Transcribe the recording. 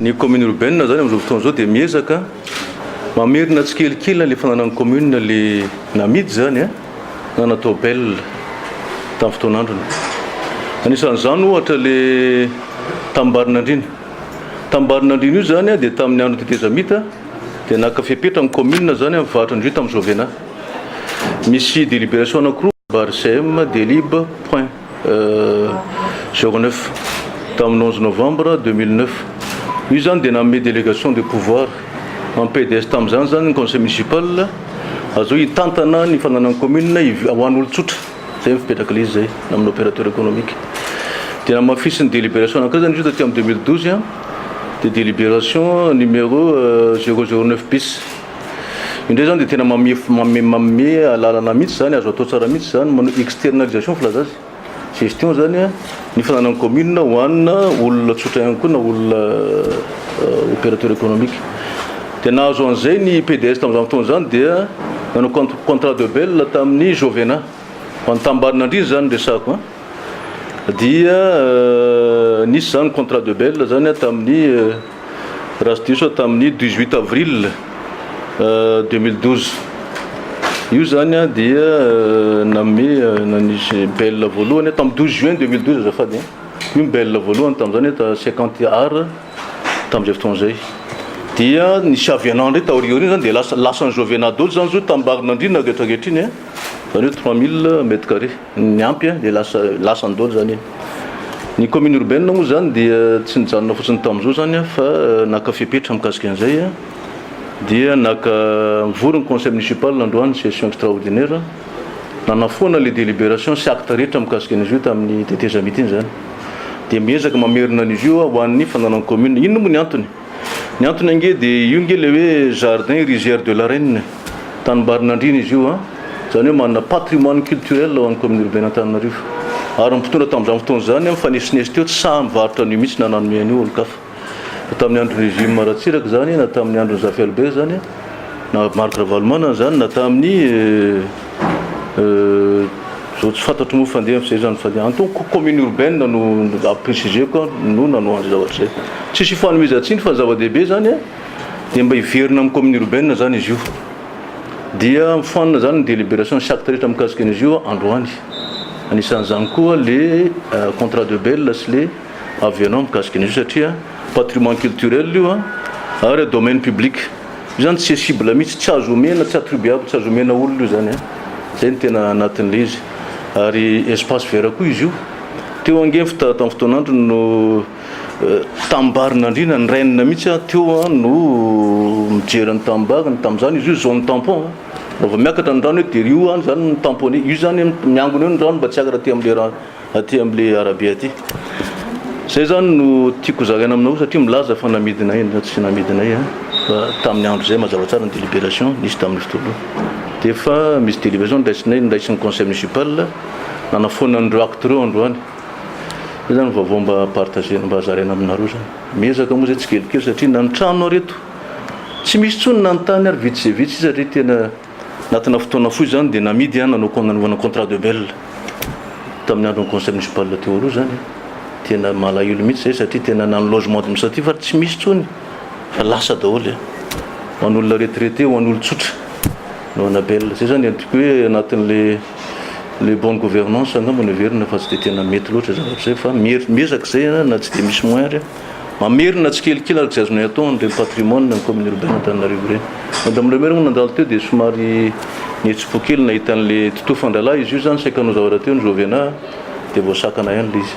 Ny commune urbaine izany amin'izao fotoana izao dia miezaka mamerina tsikelikely na ilay fananan'ny commune ilay namidy izany na natao bel tamin'ny fotoan'androny. Anisan'izany ohatra ilay tamim-barin'andriana. Tamim-barin'andriana io izany dia tamin'ny andron'ny tetezamita dia naka fepetra ny commune izany amin'ny varotra indrindra tamin'ny Jovena. Misy deliberation anakiroa, barcm, delib, point. Zéro neuf, tamin'ny onze novembre deux mille neuf. Io zany dia nanome délégation de pouvoir an'ny PDS tamin'izany zany ny conseil municipal azao hitantana ny fananan'ny commune ho an'ny olon-tsotra. Zay fipetraka le izy zay amin'ny opérateur économique. Dia namafisin'ny délibération anankiray zany izy io taty amin'ny deux mille douze dia délibération numéro zéro zéro neuf bis. Indray izany dia tena manome manome alalana mihitsy izany, azo atao tsara mihitsy izany, manao externalisation filaza azy, gestion izany an, ny fananan'ny commune ho anona olona tsotra ihany koa na olona opérateur économique. Dia nahazo an'izay ny PDS tamin'izany fotoana izany dia nanao cont- contrat de bail tamin'ny Jovena. Ho an'ny Tambarinandriana izany no resahako an. Dia nisy izany contrat de bail izany an tamin'ny raha tsy diso aho tamin'ny dix huit avril deux mille douze io zany a dia name nanisy belle voalohany tamin'ny douze juin deux mille douze azafady a io ny belle voalohany tamin'izany eto cinquante ar tamin'izay fotoana izay dia nisy avianandry taoriaorina izany dia lasa lasan'ny jovenado zany zo tambarin'andriana rehetra ankehitriny a Zany hoe trois mille mètres carrés ny ampy dia lasa lasany daholo zany iny. Ny commune urbaine moa zany dia tsy nijanona fotsiny tamin'izao zany fa naka fepetra mikasika an'izay dia naka nivory ny conseil municipal androany session extraordinaire nanafoana ilay délibération sy acte rehetra mikasika an'izy io tamin'ny tetezamita iny zany dia miezaka mamerina an'izy io hoan'ny fananan'ny commune. Inona moa ny antony? Ny antony ange dia io ange ilay hoe jardin rizière de la Reine, tanimbarin'andriana izy io an, izany hoe manana patrimoine culturel ao amin'ny commune urbaine Antananarivo. Ary ny mpitondra tamin'izany fotoana izany mifanesoneso teo tsy sahy mivarotra an'io mihitsy na nanome an'io olon-kafa. Na tamin'ny andron'ny régime Ratsiraka izany, na tamin'ny andron'i Zafy Albert izany, na Marc Ravalomanana izany, na tamin'ny. Zao tsy fantatro moa fa andeha amin'izay zany fa antoko commune urbaine no ampirisihizeko no nanoa an'izay zavatra izay. Tsisy ifanomezan-tsiny fa ny zava-dehibe izany dia mba hiverina amin'ny commune urbaine izany izy io. Dia mifanina izany ny délibération sy actes rehetra mikasika an'izy io androany. Anisan'izany koa ilay contrat de bail sy ilay avenant mikasika an'izy io satria patrimoine culturel io ary domaine public. Io zany tsy cible mihitsy, tsy azo omena, tsy attribuable, tsy azo omena olona io zany an! Zay ny tena anatin'ilay izy. Ary espace vert koa izy io. Teo ange ny fita tamin'ny fotoan'androny no tamim-barin'andriana, ny rainina mihitsy an! Teo an! no mijery an'ny tamim-bariny, tamin'izany izy io zone tampon an! Raha vao miakatra ny rano eo dia io an! zany no tamponné. Io zany miangona eo ny rano mba tsy hiakatra aty amin'ilay rano. aty amle arabe aty zay zany no tiako zaraina aminao satria milaza fa namidina eny fa tsy namidina e fa tamin'ny andro zay mazava tsara ny délibération nisy tamin'ny fotoana dia fa misy délibération niraisinay niraisin'ny conseil municipal nanafoana an'ireo acte ireo androany zay zany vaovao mba partagena mba zaraina aminareo zany miezaka moa zay tsikelikely satria na ny trano areto tsy misy tsony na ny tany ary vitsy zay vitsy satria tena Anatina fotoana fohy izany dia namidy an nanao nanaovana contrat de bail tamin'ny andron'ny conseil municipal teo aloha izany tena malahelo mihitsy izay satria tena na ny logement administratif ary tsy misy intsony fa lasa daholo e ho an'olona retraité ho an'olon-tsotra anaovana bail izay izany ny tiako hoe anatin'le le bonne gouvernance angamba no heverina fa tsy dia tena mety loatra zavatra izay fa miezaka izay na tsy dia misy moyen ary Mamerina tsikelikely ary tsy azonay atao an'ireny patrimoine ny commune urbaine Antananarivo ireny. Madame le maire moa nandalo teo dia somary nihetsi-po kely nahita an'ilay tuto fandralahy izy io izany saika hanao zavatra teo ny Jovena dia voasakana ihany ilay izy.